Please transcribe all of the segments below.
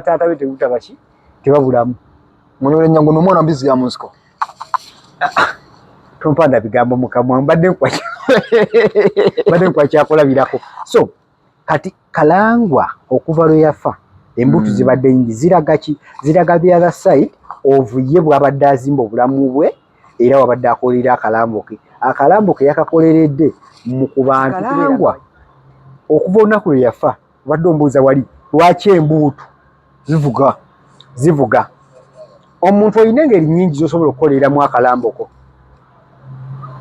taata be tegutaba ki tebabulamu munole nyangu no mwana mbizi ya munsiko tompanda bigambo mukamwa mbadde kwa mbadde kwa kyakola birako so kati kalangwa okuva lwe yafa embutu mm. zibadde nyingi ziraga ki ziraga the other side of ye bwabadde azimba obulamu bwe era wabadde akolera akalambo ke akalambo ke yakakoleredde mu kubantu kalangwa okuva olunaku lwe yafa obadde ombuuza wali lwaki embuutu zivuga zivuga omuntu olina engeri nyingi zosobola okukoleramu akalamboko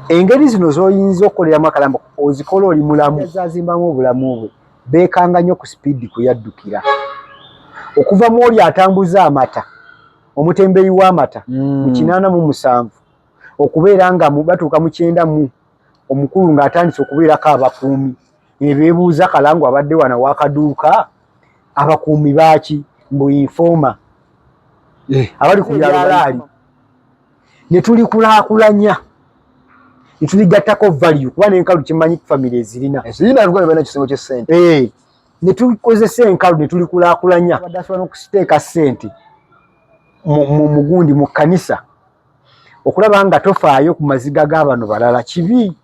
engeri zino zoyinza okukoleramu akalamboko ozikola oli mulamu zazimbamu obulamu bwe bekanga nnyo ku sipiidi kuyaddukira okuva mu oli atambuza amata omutembeyi w'amata mm. mu kinaana mu musanvu okubeera nga batuuka mu kyenda mu Omukulu ng'atandise okubeerako abakuumi ne beebuuza Kalangu abadde wano w'akaduuka abakuumi baaki mbu infooma eh. abali ku byalaali ne tulikulaakulanya ne tuligattako value kuba n'enkalu kimanyi famire ezirina eh. ne tukozesa enkalu ne tulikulaakulanya asobola n'okusiteeka ssente mu mugundi mu kkanisa okulaba nga tofaayo ku maziga ga bano balala kibi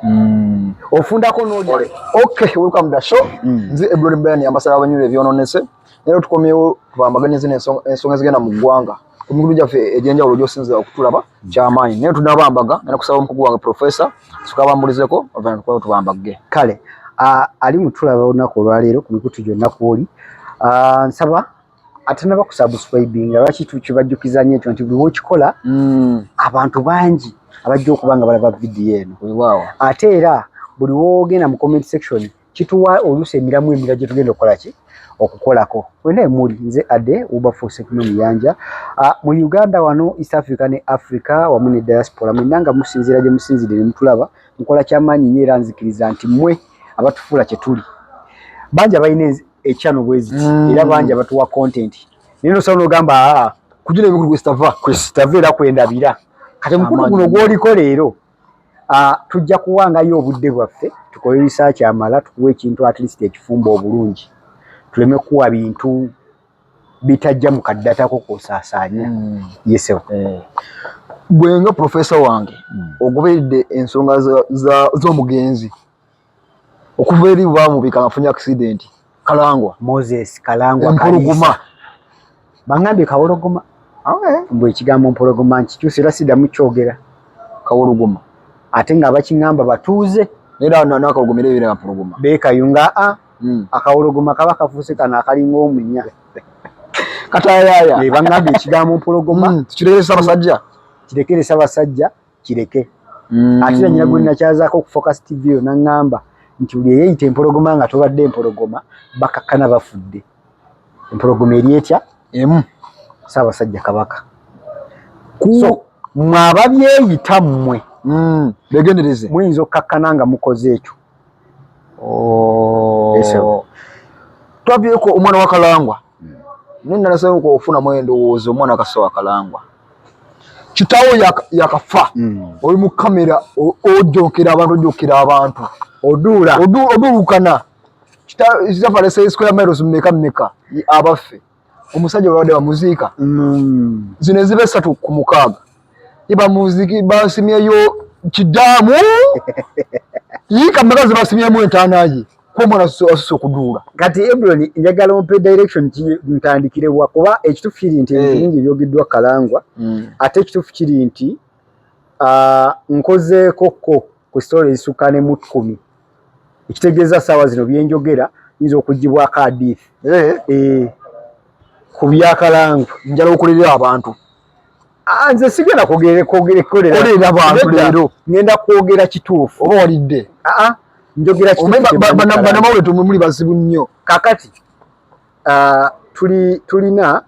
mm. ofundako nolya ok welcome the show mm. nze ebuloni brian ambasada wabanyula ebyononese nero tukomyewo tubambaganyize ensonga ezigenda mu ggwanga ku mikutu gyaffe egyenjawulo gyosinzira okutulaba mm. kyamaanyi naye tunabambaga nena kusaba omukugu wange profesa sukabambulizeko ovana tukwao tubambagge kale ali mutulaba olunaku olwaleero ku mikutu gyonna kwoli nsaba atanaba kusubscribinga lwaki tukibajjukiza nyo ekyo nti buli wokikola mm. abantu bangi abajja okuba nga balaba vidiyo eno ate era buli wogenda mu comment section kituwa oluusi emiramu emira gyetugenda okukola ki okukolako wena emuli nze ade ubafusekino muyanja ah, mu uganda wano east africa ne africa wamu ne diaspora mwena nga musinzira gye musinzire ne mutulaba mukola kyamaanyi nyo era nzikiriza nti mwe abatufuula kyetuli bangi abalina ekyano bweziti mm. era bangi abatuwa content naye nosaba nogamba aa ah, kujuna ebikulu kwesitava kwesitava era kwendabira kati mukulu guno gwoliko leero ah, tujja kuwangayo obudde bwaffe tukole risaaki amala tukuwa ekintu at least ekifumba obulungi tuleme kuwa bintu bitajja mu kaddatako kosaasaanya mm. yesewa eh. gwenga profesa wange mm. ogoberedde ensonga z'omugenzi za, za okuva eri bwamubika afunye accident kalangwa moses kalangwa kalisa bangambye kawologoma okay. mbu ekigambo mpologoma nkikyusa era sidamu kyogera kawologoma ate nga abakiŋamba batuuze era nakawologoma era ebeera mpologoma bekayunga a ah, hmm. akawologoma kaba kafuuse kano akalinga omunya katayaya bangambye ekigambo mpologoma hmm, tukirekere sabasajja kirekere sabasajja kireke mm. ate na nyina gwenakyazaako ku focus tv yo naŋŋamba nti buli eyeyita empologoma nga tobadde empologoma bakakkana bafudde empologoma eri etya emu saabasajja kabaka so mwe ababyeyita mmwe mm. begendereze muyinza okkakkana nga mukoze ekyo oh. twabyeko omwana wakalangwa mm. naye nalasayo okufuna mwendowooza omwana kasawa kalangwa kitawo yakafa hmm. oli mu kamera ojokera abantu ojokera abantu oduula oduulukana kitaafaleseisquaremirosmmekameka abaffe omusajja webabadde bamuziika hmm. zino eziba esatu ku mukaaga ibamuziiki basimyeyo kidaamu yiika meka zibasimyemu entaana ye komona osuse okuduula kati ebron njagala ompe direction ki ntandikire wa kuba ekitufu kiri nti eh. ebintu bingi ebyogeddwa kalangwa hmm. ate ekitufu kiri nti ah, nkozeeko ko ku sitoola ezisukka ne mutkumi ekitegeeza saawa zino byenjogera yinza okugibwako adiifu eh. eh. ku byakalangwa njala okulirira abantu Ah, nze sigenda kwogerekolera bantu leero ngenda kwogera kituufu oba walidde ah, ah. njogera kituubanamawule tumwe muli bazibu nnyo kakati tulina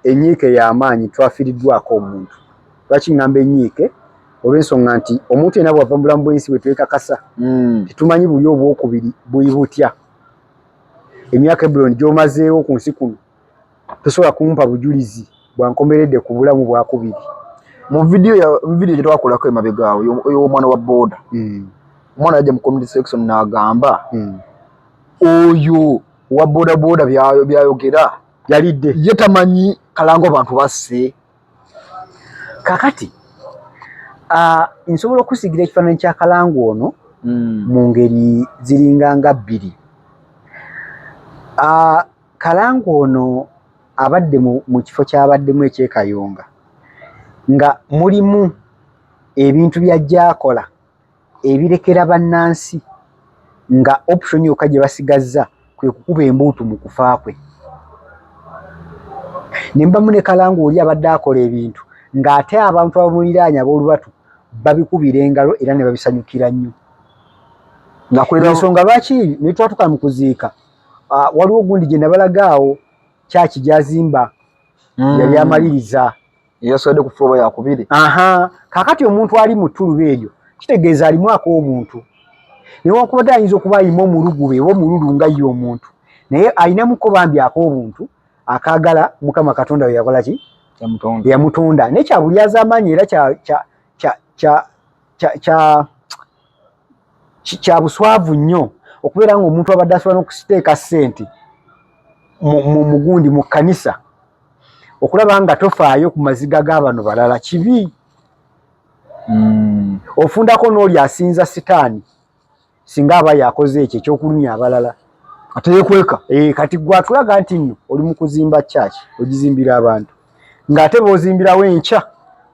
enyiike y'amaanyi twafiiriddwako omuntu lwaki ngamba enyiike olw'ensonga nti omuntu yena bwava mu bulamu bw'ensi bwe twekakasa hmm. tetumanyi buli obwokubiri buli butya emyaka ebuloni gy'omazeewo ku nsi kuno tosobola kumpa bujulizi bwankomeredde ku bulamu bwakubiri mu vidiyo ya vidiyo gyetwakolako emabega awo ey'omwana wa boda hmm. omwana yajja mu community section n'agamba hmm. oyo wa boda boda byayogera yalidde ye tamanyi kalango abantu basse kakati ah, nsobola okusigira ekifaananyi kya kalango ono hmm. mu ngeri ziringa nga bbiri ah, Kalango ono abadde mu kifo kyabaddemu eky'e Kayunga nga mulimu ebintu by'ajja akola ebirekera bannansi nga option yokka gye basigazza kwe kukuba embuutu mu kufa kwe ne mbamu ne Kalango oli abadde akola ebintu ng'ate abantu abamuliraanya ab'olubatu babikubira engalo era ne babisanyukira nnyo nga kwensonga lwaki ne twatuka mu kuziika Ah, waliwo gundi gye nabalaga awo kyaki gyazimba mm. yali amaliriza yaswadde ku floor ya kubiri aha kakati omuntu ali mu tuluba eryo kitegeeza alimu ak'obuntu newankubadde ayinza okuba ayima omulugube oba omululu nga ye omuntu naye alinamuko bambi ak'obuntu akagala mukama katonda we yakola ki yamutonda naye kyabulyazaamaanyi era kya kya kya kya kya kya buswavu nnyo okubeera ng'omuntu abadde asobola n'okusiteeka ssente mu mugundi mu kkanisa okulaba nga tofaayo ku maziga g'abano balala kibi hmm. ofundako n'oli asinza sitaani singa aba yakoze ekyo ekyokulumya abalala ateyekweka eh, kati gwatulaga nti nno oli mu kuzimba kyaki ogizimbira abantu ng'ate b'ozimbirawo enkya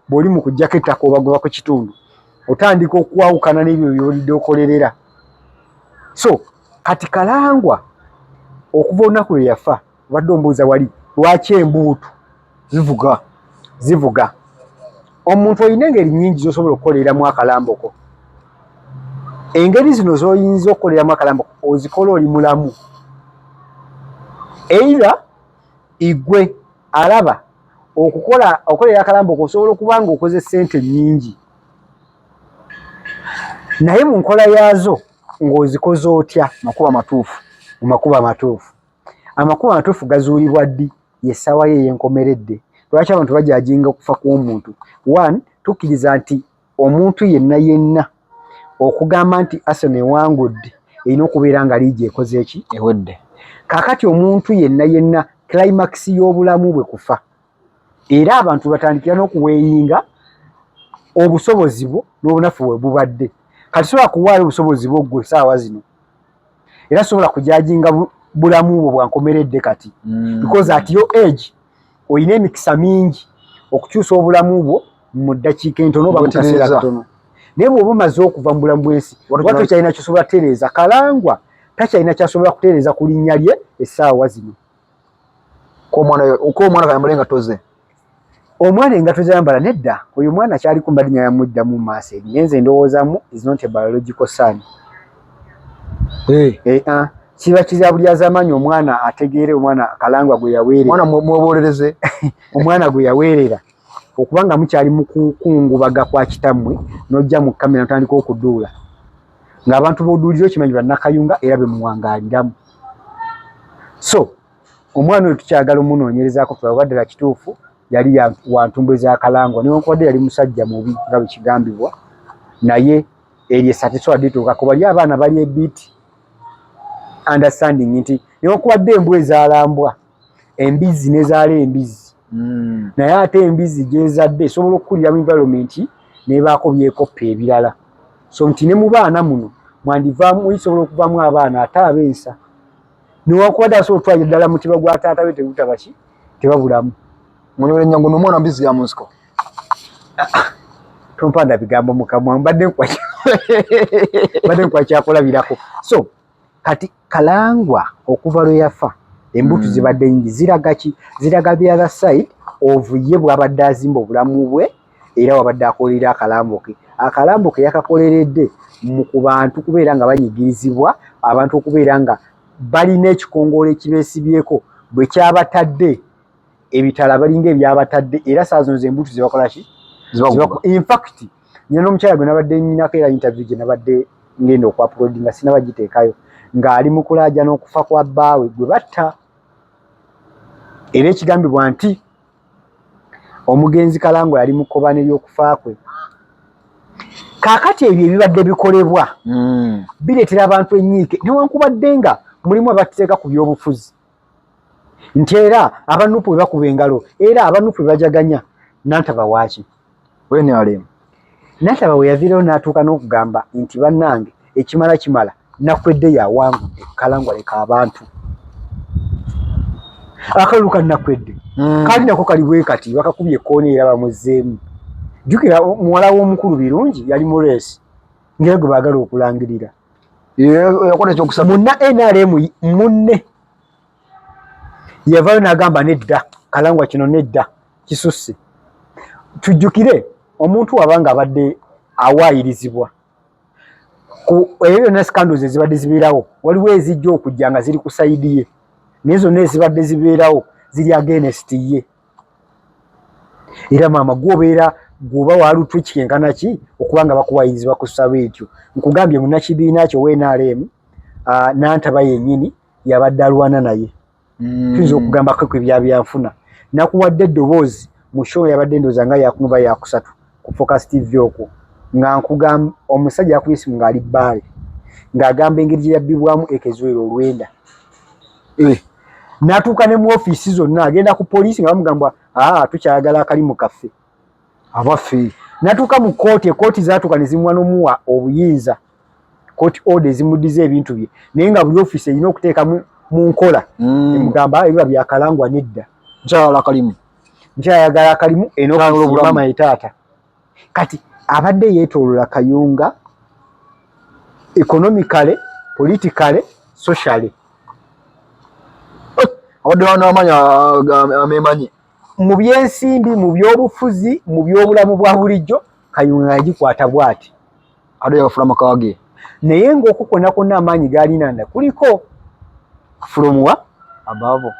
bw'oli mu kuggyako ettaka obagoba ku kitundu otandika okwawukana n'ebyo by'olidde okolerera so kati kalangwa okuva olunaku lwe yafa obadde ombuuza wali lwaki embuutu zivuga zivuga omuntu olina engeri nyingi z'osobola okukoleramu akalamboko engeri zino z'oyinza okukoleramu akalamboko ozikola oli mulamu eira igwe alaba okukola okolera akalamba okusobola okuba nga okoze sente nyingi naye mu nkola yaazo ng'ozikoze otya makuba matuufu mu makuba matuufu amakuba matuufu gazuulibwa ddi yessaawa ye eyenkomeredde lwaki abantu bajajinga okufa kw'omuntu one tukkiriza nti Omuntu yenna yenna okugamba nti Arsenal ewangudde erina okubeera nga liigi ekoze ki? Ewedde. Kaakati omuntu yenna yenna climax y'obulamu bwe kufa era abantu batandikira n'okuweeyinga obusobozi bwo n'obunafu bwe bubadde. Kati sobola kuwaayo obusobozi bwo ggwe saawa zino era sobola kujajinga bulamu bwo bwankomeredde kati mm. because at your age olina emikisa mingi okukyusa obulamu bwo mu ddakiika entono oba mu kaseera katono naye bwoba omaze okuva mu bulamu bwensi oba tokyalina kyosobola kutereeza kalangwa takyalina kyasobola kutereeza ku linnya lye essaawa zino k'omwana kayambule nga toze Omwana engato zayambala nedda oyo mwana kyali kumba linya yamudda mu maaso eri nenze ndowoozamu is not a biological son eh eh ah kiba kizabuli azamanyi omwana ategeere omwana kalangwa gwe yaweerera omwana mwobolereze omwana gwe yaweerera okubanga mukyali mukukungubaga kwa kitammwe nojja mu kamera ntandika okuduula ng'abantu boduulira okimanyi bannakayunga era bemuwangaaliramu so Omwana oyo tukyagala omunoonyerezaako tulabe oba ddala kituufu yali wa ntumbwe za Kalangwa newankubadde yali musajja mubi nga bwe kigambibwa naye eryo essa tesobola lituuka kuba lyo abaana bali ebiiti understanding nti newankubadde embwa ezaalambwa embizzi nezaala embizzi hmm. naye ate embizzi gyezadde esobola okukulira mu environment nebaako byekoppa ebirala so nti ne mu baana muno mwandivaamu isobola okuvaamu abaana ate abensa newakubadde asobola okutwalira ddala mutiba gwa taata we tegutaba ki tebabulamu munyole nyangu nomwana mbizi ya munsiko tompanda bigambo mukamwa mbadde mbadde nkwakyakulabirako so kati kalangwa okuva lwe yafa embutu mm. zibadde nyingi ziraga ki ziraga the other side of ye bwabadde azimba obulamu bwe era wabadde akolerera akalambo ke akalambo ke yakakoleredde mu ku bantu kubeera nga banyigirizibwa abantu okubeera nga balina ekikongoola ekibeesibyeko bwe kyabatadde ebitala balinga ebyabatadde era saa zino zembuutu zebakola ki infact nyina n'omukyala gwe nabadde nyinako era interview gye nabadde ngenda okuapulodi nga sinaba giteekayo ng'ali mu kulaaja n'okufa kwa bbaawe gwe batta era ekigambibwa nti Omugenzi Kalangwa yali mu kkobaane ly'okufa kwe. Kaakati ebyo ebibadde bikolebwa hmm. bireetera abantu ennyiike newankubadde nga mulimu abateeka ku byobufuzi nti era abanupu bwe bakuba engalo era abanupu bwe bajaganya nantaba waaki. wenalemu nataba weyavirewo natuuka n'okugamba nti bannange ekimala kimala nakwedde yawangudde kalangwa leka abantu akalulu ka nakwedde mm. kali nako kali bwekati bakakubye ekoona era bamuzzeemu jjukira muwala w'omukulu birungi yali mu reesi ngera gwe baagala okulangirira yakola ekyokusaba munna nrm munne yavayo nagamba nedda kalangwa kino nedda kisusse tujjukire omuntu wabanga abadde awaayirizibwa ebyo byonna scandals ezibadde zibeerawo waliwo ezijja okujja nga ziri ku sayidi ye naye zonna ezibadde zibeerawo ziri agenest ye era maama gwobeera gwoba walutwe kikenkana ki okuba nga bakuwayirizibwa ku sabo ekyo nkugambye munakibiina kyo wnrm nantaba yenyini yabadde alwana naye mm. tuyinza okugambako ku ebyabyanfuna nakuwadde eddoboozi mu show yabadde ndooza nga yakumuba yakusatu ku focus tv okwo nga nkugamba omusajja yakuba esimu ng'ali bbaale ng'agamba engeri gye yabbibwamu ekezuwera olwenda eh. natuuka ne mu ofiisi zonna agenda ku poliisi nga bamugamba aa ah, tukyayagala akalimu kaffe abaffe natuuka mu kkooti ekkooti zatuuka ne zimuwa n'omuwa obuyinza court order ezimudiza ebintu bye naye nga buli office erina okuteeka mu nkola mm. emugamba ah, ebiba byakalangwa nedda nkyayala kalimu nkyayagala akalimu enomaama etaata kati abadde yetolola kayunga economicale politicale sociale abadde wana amanya amemanyi mu byensimbi mu byobufuzi mu byobulamu bwa bulijjo kayunga yagikwata bwati ado yafula makawage naye nga okukona kona amaanyi galina nda kuliko from wa above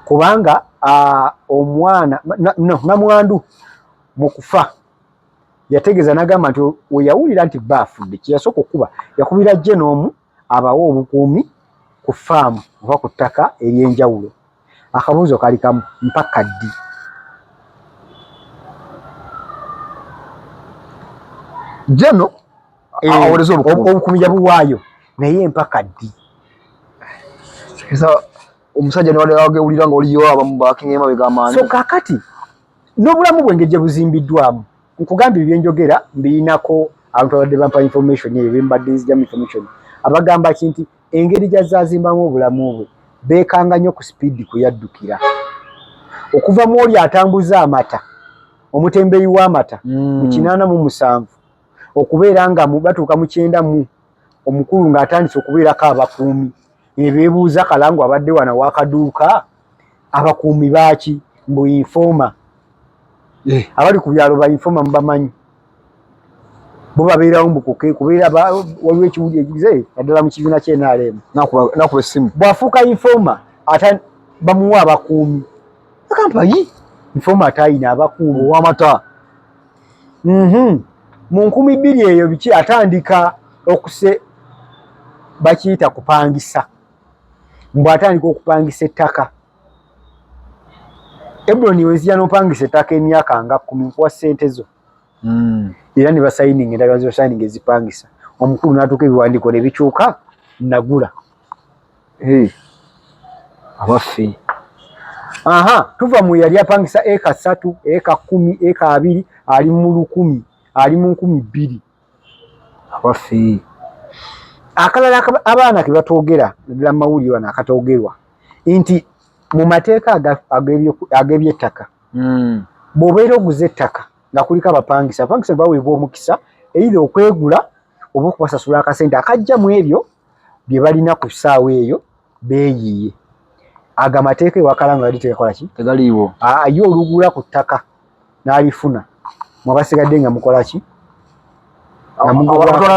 kubanga uh, omwana no namwandu mukufa yategeza nagamba nti weyawulira nti bafudde kyeyasooka okukuba yakubira jje n'omu abawa obukuumi ku ffaamu oba ku ttaka ery'enjawulo. Akabuuzo kali kamu, mpaka ddi? Jeno awereza eh, obukuumi yabuwaayo naye mpaka ddi? omusajja newagewulira nga oliyo abamu bakinga emabega amaanyi. So kakati n'obulamu bwenge gye buzimbiddwamu nkugambye byenjogera mbiyinako abantu abadde bampa information eyo bembadde nzijamu information abagamba ki nti engeri gyazazimbamu obulamu bwe bekanga nnyo ku sipiidi kwe yaddukira okuva mu oli atambuza amata omutembeyi w'amata mu mm. kinaana mu musanvu okubeera nga batuuka mu kyenda mu omukulu ng'atandise okubeerako abakuumi ebeebuuza kalangu abadde wana wakaduuka abakuumi baaki mbu infooma eh. abali ku byalo ba infooma mubamanyi bo babeerawo mbu kubeera waliwo ekiwuli ekize naddala mu kibiina kye nrm nakuba essimu bw'afuuka infooma ate bamuwa abakuumi agamba yi infooma ate ayina abakuumi owamata mhm. mu nkumi bbiri eyo biki atandika okuse bakiyita kupangisa mbu atandika okupangisa ettaka ebroni wezija nopangisa ettaka emyaka nga kumi nkuwa sente zo hmm. era ne basayininga endagala zibasayininga ezipangisa omukulu natuuka ebiwandiiko ne bikyuka nagula abaffe aha tuva mu yali apangisa eka satu eka kumi eka abiri ali mu lukumi ali mu nkumi bbiri abaffe akalala abaana kebatwogera naddala mumawulire wano akatwogerwa nti mu mateeka ag'ebyettaka hmm. bw'obeera oguze ettaka nga kuliko abapangisa abapangisa baweebwa omukisa eitha okwegula oba okubasasula akasente akajja mu ebyo bye balina ku ssaawa eyo beeyiiye ago amateeka ewakala nga gali tegakola ki tegaliiwo ye olugula ku ttaka n'alifuna mwabasigadde nga mukola ki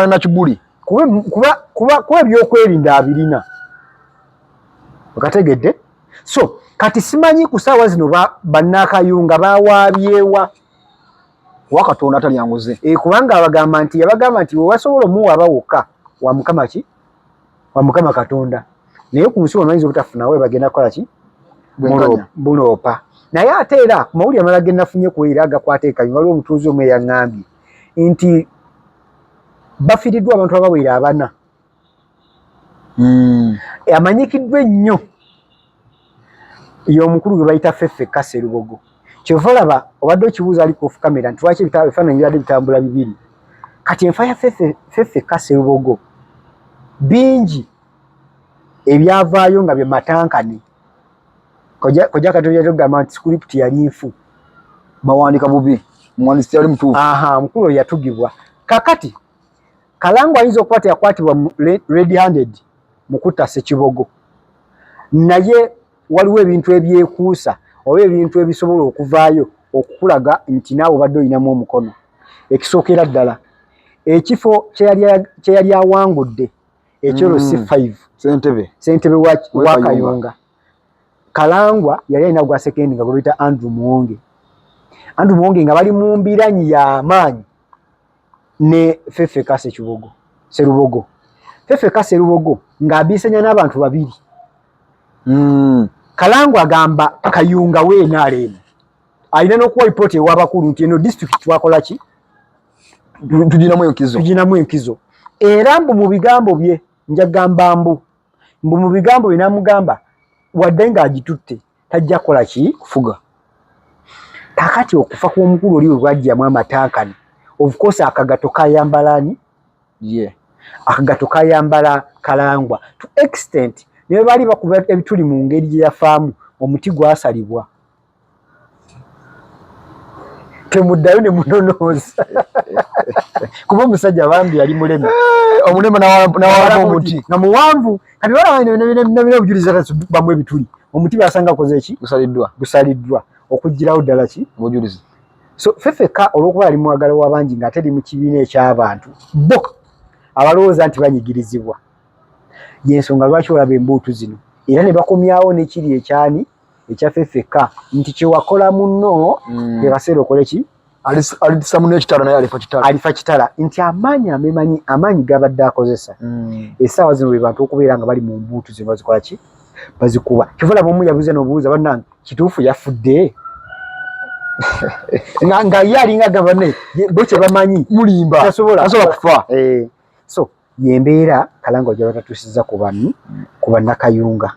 na kibuli kuba ebyokwerinda abirina okategedde so kati simanyi ku ssaawa zino bannaakayunga bawaabyewa wa katonda atalya nguzi e, kubanga abagamba nti yabagamba nti wewasobola omuwa aba wokka wa mukama ki wa mukama katonda naye ku nsi wamayinza obutafunawo ebagenda kukola ki buloopa naye ate era ku mawulire amala genafunye ku era agakwata ekanyi waliwo omutuuzi omu eyaŋambye nti bafiiriddwa abantu abawera abana hmm. amanyikiddwa ennyo y'omukulu gwe bayita feffe kase lubogo kyova olaba obadde okibuuza ali ku kamera nti lwaki ebifaananyi bibadde bitambula bibiri kati enfa ya feffe kase lubogo bingi ebyavaayo nga bye matankane kojja katonda yatugamba nti sikulipti yali nfu mawandika bubi mwandisi yali mutuufu aha mukulu yatugibwa kakati Kalango ayinza okuba teyakwatibwa red handed mu kutta Ssekibogo, naye waliwo ebintu ebyekuusa oba ebintu ebisobola okuvaayo okukulaga nti naawe obadde olinamu omukono. Ekisookera ddala ekifo kye yali awangudde ekyolo si mm. five ssentebe wa Kayunga Kalangwa yali alina gwa sekendi nga gwebita Andrew Muwonge Andrew Muwonge nga bali mu mbiranyi y'amaanyi ne Fefe Kase Kibogo Serubogo Fefe Kase Serubogo ng'abiisanya n'abantu babiri mm. Kalangu agamba Kayunga we NRM alina n'okuwa lipooti ew'abakulu nti eno disitulikiti twakola ki tuginamu enkizo tuginamu enkizo era mbu mu bigambo bye njagamba mbu mbu mu bigambo bye namugamba wadde ng'agitutte tajja kola ki kufuga kakati okufa kw'omukulu oli webwajjamu amatankani of course akagato kayambalani ye yeah. akagato kayambala kalangwa to extent naye bali bakuba ebituli mu ngeri gye yafaamu omuti gwasalibwa temuddayo ne munonooza kuba omusajja bambi yali mulema eh, omulema nawalamu omuti nga muwanvu kati wala wali nabina obujulizi ata bamu ebituli omuti basanga koze eki gusaliddwa gusaliddwa okujjirawo ddala ki mujulizi so fefeka olwokuba yali mwagala wabangi nga ate li mu kibiina ekyabantu bo abalowooza nti banyigirizibwa yensonga lwaki olaba embuutu zino era ne bakomyawo nekiri ekyani ekyaffe ffekka nti kyewakola munno mm. ebaseera okole ki alisa munno ekitala naye alifa kitala alifa kitala nti amaanyi amemanyi amaanyi gabadde akozesa mm. esaawa zino bwe bantu okubeera nga bali mu mbuutu zino bazikola ki bazikuba kivola bomu yabuze nobuuza banange kituufu yafudde nga nga ye alinga gavane bo kye bamanyi mulimba tasobola kufa eh. so yembeera kalanga ojaba tatusiza ku banni ku bannakayunga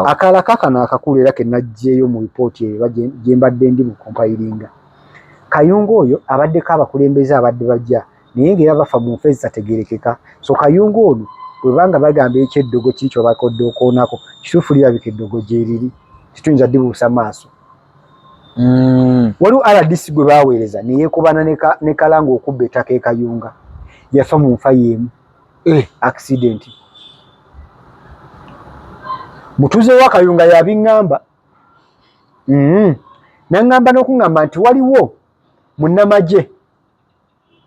akaala kakano akakulu era kenajjeeyo mu ripooti eyo ba gyembadde ndi mu kompayiringa kayunga oyo abaddeko abakulembeze abadde bajja naye ngaera bafa mu nfa ezitategerekeka so kayunga ono webanga bagamba ekyeddogo kiri kyobakodde okoonako kituufu lirabika eddogo gyeriri tituyinza dibuusa maaso mm. waliwo rdc gwe baweereza neyekubana ne kalanga okubba ettaka ekayunga yafa mu nfa yeemu eh. accident mutuze wa kayunga yabiŋŋamba mm. naŋŋamba n'okuŋŋamba nti waliwo munnamagye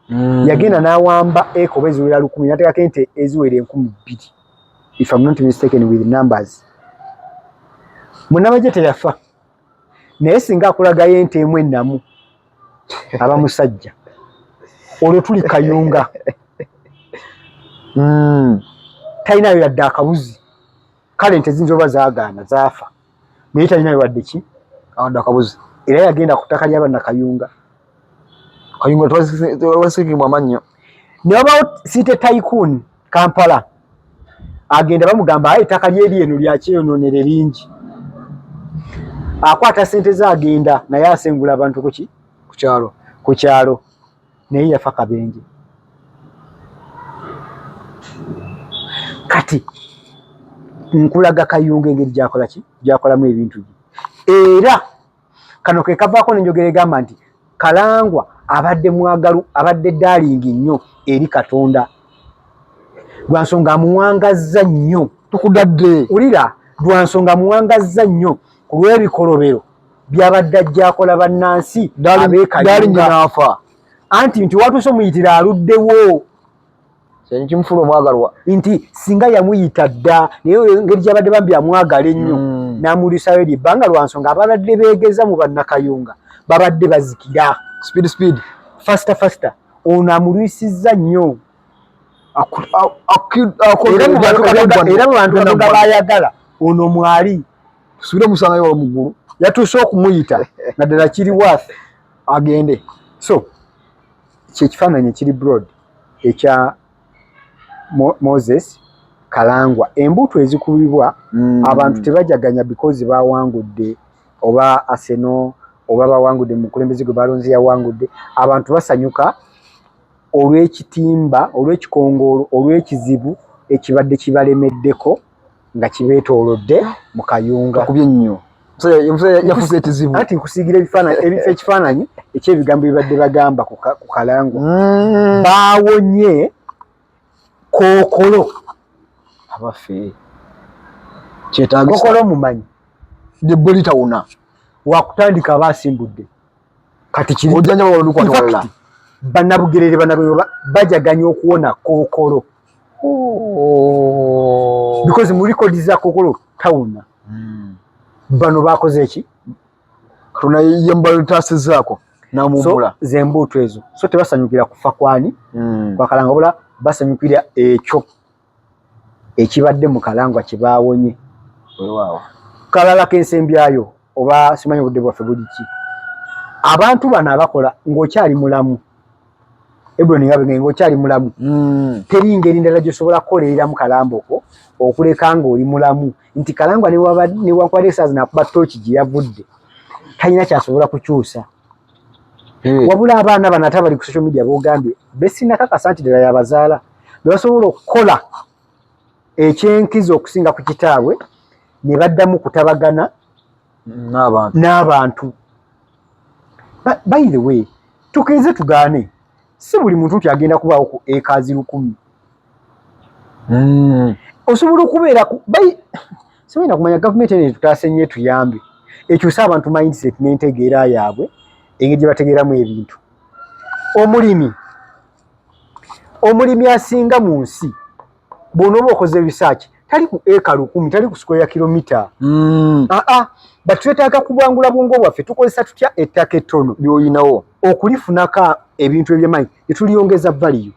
mm. yagenda n'awamba eka oba eziwera lukumi nateekako ente eziwera enkumi bbiri if am not mistaken with numbers munabajje teyafa naye singa akulagayo ente emu ennamu aba musajja olwo tuli kayunga mm. talinayo yadde akabuzi kale ente zinza oba zagaana zaafa naye talinayo wadde ki awadde akabuzi era yagenda ku ttaka lyaba nakayunga kayunga twasikimu amannyo ne wabaawo siite taikuuni kampala agenda bamugamba aye ettaka lyeri eno lyakyeyononere lingi akwata sente ze agenda naye asengula abantu kuki kukyalo kukyalo naye yafa kabenje kati nkulaga kayunga engeri gyakolaki gyakolamu ebintu bye era kano ke kavaako nenjogera egamba nti kalangwa abadde mwagalu abadde daalingi nnyo eri katonda lwa nsonga amuwangazza nnyo tukudadde wulira lwa nsonga amuwangazza nnyo ku lw'ebikolobero byabadde ajja akola bannansi abeekayunaafa anti nti watuuse omuyitira aluddewo kimufula omwagalwa nti singa yamuyita dda naye engeri gyabadde bambi amwagala ennyo hmm. n'amulisayo eri ebbanga lwa nsonga ababadde beegeza mu bannakayunga babadde bazikira speed speed fasta fasta ono amulwisizza nnyo era mu bantu babayagala ono mwali tusubire omusangayo waba mu ggulu yatuuse okumuyita naddala kiri wath agende so kyekifaananyi kiri broad ekya moses kalangwa embuto ezikubibwa mm. abantu tebajaganya because bawangudde oba aseno oba bawangudde mukulembeze gwe balonzi yawangudde abantu basanyuka olw'ekitimba olw'ekikongoolo olw'ekizibu ekibadde kibalemeddeko nga kibeetoolodde mu kayunga kubye nnyo yafuza ekizibu anti nkusiigira ebifaananyi ebifa ekifaananyi ekyebigambo bibadde bagamba ku kalango mm. baawonye kookolo abaffe kyetaagokola omumanyi lyebbo litawona wakutandika aba asimbudde kati kiriojanja babalonukwanwalala banabugerere banabugerere bajaganya okuwona kookolo oh. because mu record za kokolo town mm. bano bakoze eki tuna yembalo tase zako na mumula so, zembutu ezo so tebasanyukira kufa kwani mm. kwa kalanga bula basanyukira ekyo ekibadde mu kalangwa kibawonye wow. kalala kensembyayo oba simanyi budde bwaffe buliki abantu bano abakola ng'okyali mulamu Hebroni nga bwenge ngokyali mulamu mm. teri ngeri ndala gyosobola kukolereramu kalamboko okuleka nga oli mulamu nti kalangwa newankubadde esaazi nakuba tooki gye yavudde talina kyasobola kukyusa mm. wabula abaana bano ate abali ku social media bogambye besinakakasa nti ddala yabazaala bebasobola okukola ekyenkizo okusinga ku kitaabwe ne baddamu kutabagana n'abantu by the way tukirize tugaane si buli muntu nti agenda kubaawo ku ekazi lukumi hmm. osobola okubeera simanyi nakumanya gavumenti ene etutaase nnyo etuyambe ekyuse abantu mindset n'entegeera yaabwe engeri gye bategeeramu ebintu omulimi omulimi asinga mu nsi bwona oba okoze research tali ku eka lukumi tali ku square kilomita mm. aa ah, ah. batwetaaga kubwangula bwongo bwaffe tukozesa tutya ettaka ettono lyoyinawo okulifunako ebintu ebyemanyi netuliyongeza valiyo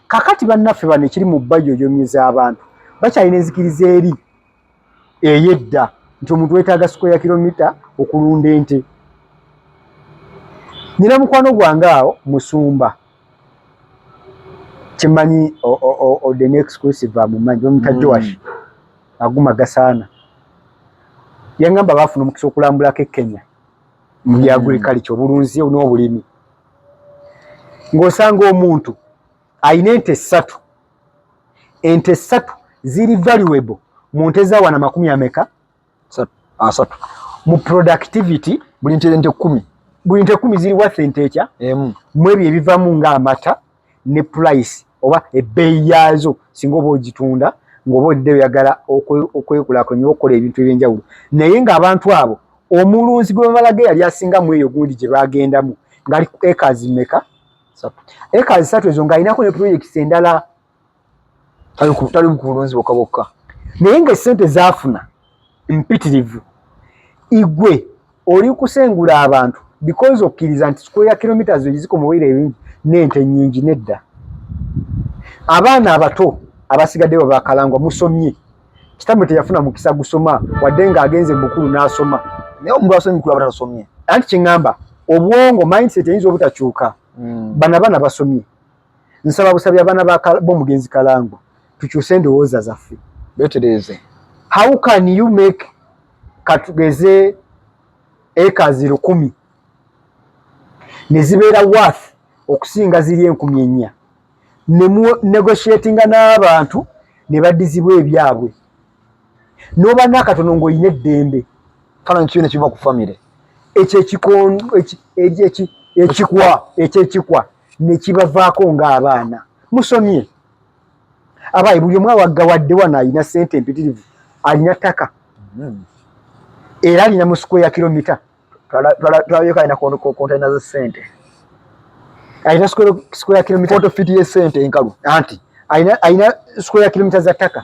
kakati bannaffe bano ekiri mu bayoyomye z'abantu bakyalina enzikiriza eri eyedda nti omuntu wetaaga square kilomita okulunda ente nina mukwano gwange awo musumba kimanyi the next exclusive amumanyi bamuta joash mm. aguma gasaana yangamba bafuna omukisa okulambulako ekenya mu bya mm. agriculture obulunzi n'obulimi ng'osanga omuntu alina ente ssatu ente satu ziri valuable mu nte za wana makumi ameka asatu mu productivity buli nte nte kumi buli nte kumi ziri worth ente ekya emu mu ebyo ebivamu nga amata ne price oba ebbeeyi yaazo singa oba ogitunda ng'oba odde oyagala okwekulakulanya okukola ebintu eby'enjawulo naye ng'abantu abo omulunzi gwe bamalaga eyali asinga mu eyo gundi gye bagendamu ngali ekazi meka eka zisatu ezo ng'alinako ne projects endala tali ku bulunzi bokka bokka naye ng'essente zaafuna mpitirivu igwe oli kusengula abantu because okkiriza nti sukulu ya kilometres egiziko muwere ebingi n'ente nnyingi nedda abaana abato abasigaddewo bakalangwa musomye kitambo teyafuna mukisa gusoma wadde nga agenze mukulu n'asoma naye omuntu asomye mukulu aba tasomye anti kyeŋŋamba obwongo mindset eyinza obutakyuka hmm. bana bana basomye nsaba busabi abaana bomugenzi kalango tukyuse endowooza zaffe betereeze how can you make katugeze ekazi lukumi ne zibeera worth okusinga ziri enkumi ennya ne mu negotiatinga n'abantu ne baddizibwa ebyabwe n'oba n'akatono ng'olina eddembe falanyi kyona kiva ku famire ekyo ekikwa ekyekikwa ne kibavaako ng'abaana musomye abaayi buli omu awaggawadde wano alina ssente empitirivu alina ttaka hmm. era alina mu sikweya kilomita twalabyeko alina kontena za sente alina square kilomita foto fiti ye sente enkalu anti alina square kilomita za ttaka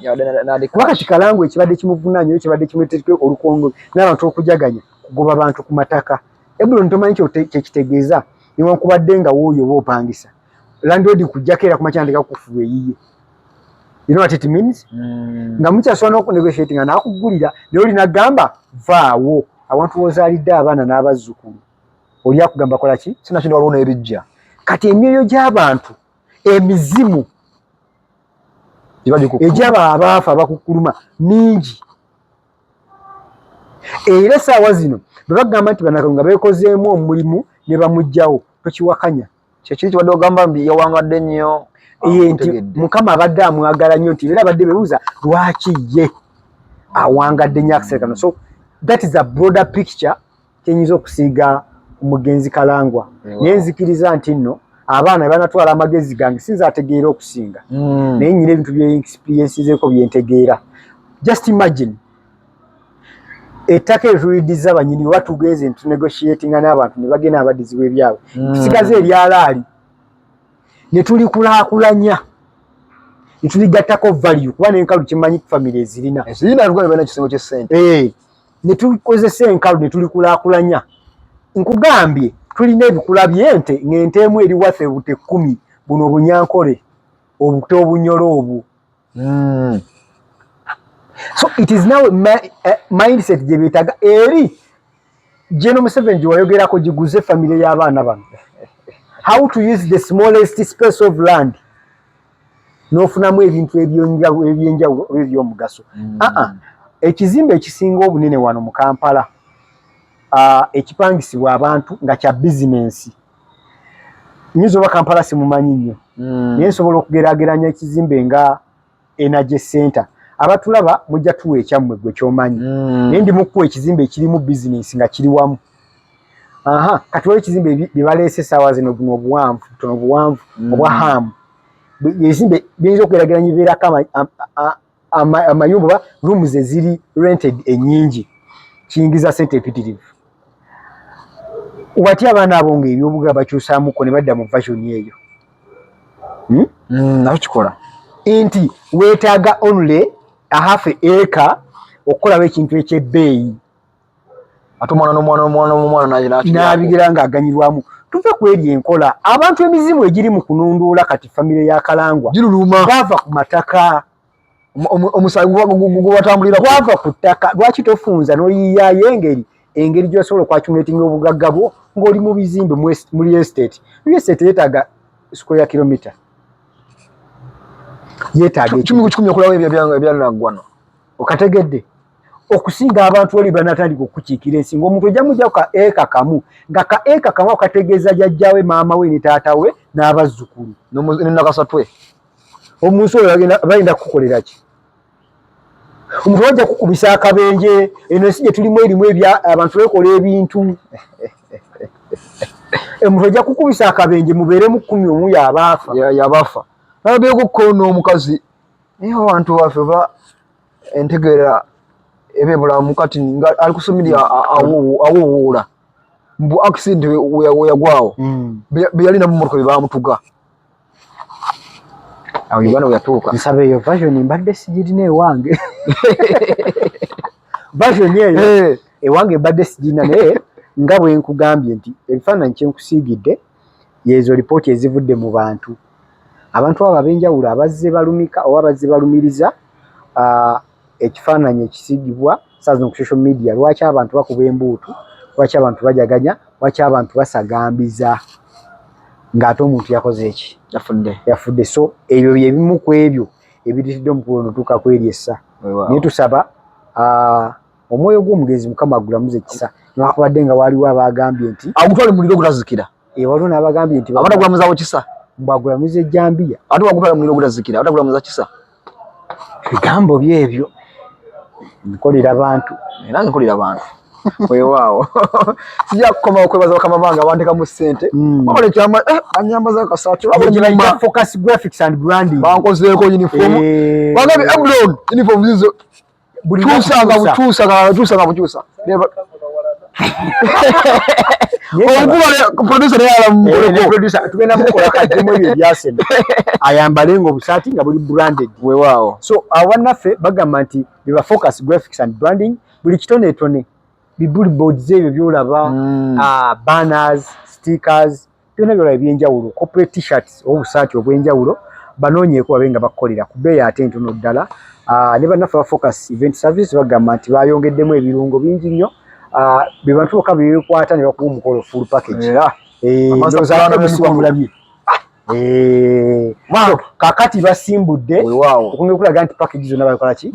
kuba kati kalangu ekibadde kimuvunanyo yo kibadde kimuleteke olukongo n'abantu okujaganya kugoba bantu ku mataka ebuloni tomanyi kyekitegeeza newankubadde nga wuuyo oba opangisa landlord kujjako era kumakya ndeka kufuwa eyiye you know what it means mm. nga mukyasobola n'okunegotiate nga nakuggulira naye olina gamba vaawo awantu wozaalidde abaana n'abazzukulu oli akugamba kola ki sina kino waliwo n'ebijja kati emyoyo gy'abantu emizimu egyaba abaafa abakukkuluma mingi era esaawa zino bwe bagamba nti banaka nga beekozeemu omulimu ne bamugjawo tokiwakanya kyekiri kibadde ogamba mbi yawangadde nnyo ye nti mukama abadde amwagala nnyo nti era abadde bebuuza lwaki ye awangadde nnyo akiserekano so that is a broader picture kyenyinza okusiiga omugenzi kalangwa naye nzikiriza nti nno abaana banatwala amagezi gange sinza ategeera okusinga hmm. naye nyina ebintu byeexperiensizeeko byentegeera just imagine ettaka erituyiddiza abanyini oba tugenze ntunegotiatinga n'abantu ne bagenda abadizibwa ebyabwe hmm. tusigaze ebyalaali ne tulikulaakulanya ne tuligattako value kuba n'enkalu kimanyi famire ezirina eh, ne tukozesa enkalu ne tulikulaakulanya nkugambye tulina ebikula by'ente ng'ente emu eri wathe bute kkumi buno obunyankole obuto obunyolo obwo mm. so it is now eh, mindset gye beetaga eri General Museveni gye wayogerako giguze famire y'abaana bano how to use the smallest space of land n'ofunamu ebintu ebyenjawulo ebyomugaso mm. aa ah, ah. ekizimbe ekisinga obunene wano mu kampala ah, ekipangisibwa abantu nga kya bizinensi nyinza oba kampala simumanyi nnyo mm. naye nsobola okugerageranya ekizimbe nga energy center abatulaba mujja tuwa ekyammwe gwe kyomanyi mm. naye ndi mukuwa ekizimbe ekirimu bizinensi nga kiri wamu aha kati waliwo ekizimbe byebaleese esaawa zino buno obuwanvu butono obuwanvu mm. obwa hamu ebizimbe biyinza okugerageranya ebeerako amayumba oba rooms eziri rented enyingi kiyingiza sente empitirivu watya abaana abo nga ebyobuga bakyusamuko ne badda mu version eyo hmm? hmm, nawe kikola nti wetaaga only ahafe eka okukolawo ekintu ekyebbeeyi ate omwana nomwana omwana omwana nabigira nga aganyirwamu tuve kweri enkola abantu emizimu egiri mu kununduula kati famire ya kalangwa bava ku mataka omusagwatambuliragwava ku ttaka lwaki tofunza noyiyayo engeri engeri gyosobola okwacumetinga obugagga bwo ngaoli mu bizimbe muli estate muli estate yetaaga square kilomita yetaaga kimu kikumi okulawo ebyanagwano okategedde okusinga abantu oli banatandika okukiikira ensi ngaomuntu ojja mujja ka eka kamu nga ka eka kamu akategeeza jajjawe maama we ne taata we n'abazzukulu nenakasatwe omunsi oyo bayinda kukukolera ki omuntu wajja kukubisa akabenje eno ensi gye tulimu erimu ebya abantu bekola ebintu omuntu ojja kukubisa akabenje mubeeremu kkumi omu yabaafa yabaafa nabeeku kkoona omukazi Naye abantu baffe ba entegeera ebe bulamu kati nga ali kusomiri awuwuula mbu accident weyagwawo mm. beyalina mu motoka byebamutuga awo uganda weyatuuka nsaba eyo version mbadde sigirina ewange version eyo eh. ewange mbadde sigirina naye nga bwenkugambye nti ebifaananyi kyenkusiigidde yeezo lipooti ezivudde mu bantu abantu abo ab'enjawulo abazze balumika oba abazze balumiriza ekifaananyi ekisigibwa saa zino ku social media lwaki abantu bakuba embuutu lwaki abantu bajaganya lwaki abantu basagambiza ng'ate omuntu yakoze eki yafudde yafudde so ebyo bye bimu ku ebyo ebiritidde omukulu onotuuka kweryessa naye tusaba omwoyo gw'omugenzi mukama agulamuze kisa newakubadde nga waaliwo abaagambye nti agutwale muliro ogutazikira e waliwo n'abagambye nti abana gulamuzawo kisa mbwagulamuza ejjambiya ate wagutwala muliro ogutazikira abana gulamuza kisa bigambo byebyo nkolera bantu era nkolera bantu wewaawo sija kukoma okwebaza bakama bange abanteka mu ssente hmm. bakola ekyama eh, anyambaza akasaati bankozeeko uniform eh. bangabi eblon uniform zizo bukyusa nga bukyusa nga bukyusa nga bukyusa ayambale nga obusaati nga buli branded wewaawo so awanaffe bagamba nti beba focus graphics and branding buli kitonetone bibuli boards ebyo byolaba mm. ah, banners stickers byona byola ebyenjawulo corporate t-shirts obusaati obwenjawulo banoonyeeko babe nga bakolera ku bbeeyi ate entono ddala ah, ne bannaffe ba focus event service bagamba nti bayongeddemu ebirungo bingi nnyo ah, be bantu bokka bebekwata ne bakuba omukolo full package eh, ndoozaamulabye eh, kakati basimbudde okunga okulaga nti package zonna bakolaki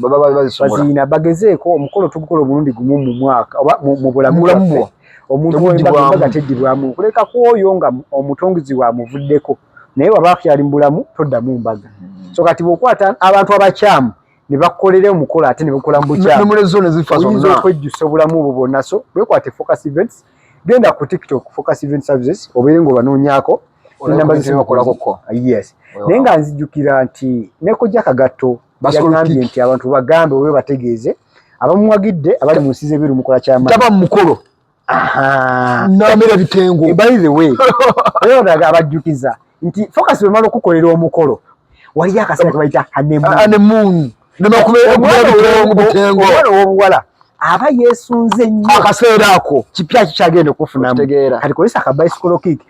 baziina bagezeeko omukolo tugukola omulundi gumu mu mwaka oba mu bulamu bwaffe omuntu embaga teddibwamu nkuleka ku oyo nga omutongizi wamuvuddeko naye waba akyali mu bulamu toddamu mbaga hmm. so kati bwokwata abantu abakyamu ne bakolera omukolo ate ne bakola mu bukyamuoyinza okwejjusa obulamu obwo bwonna so bwekwate focus events genda ku tiktok focus event services obeere nga obanoonyako enamba zisemakolakoko yes naye nga nzijukira nti nekojja kagatto yagambye nti abantu bagambe oba bategeeze abamuwagidde abali mu nsi z'ebweru mukola kyama taba mu mukolo namera bitengo eh, by the way era odaga abajjukiza nti focus bwe mala okukolera omukolo waliyo akaseera ke bayita hanemoon omwana ow'obuwala aba yeesunze nnyo akaseera ako kipya kikyagenda okufunamu kati kozesa akabayisikolo kiiki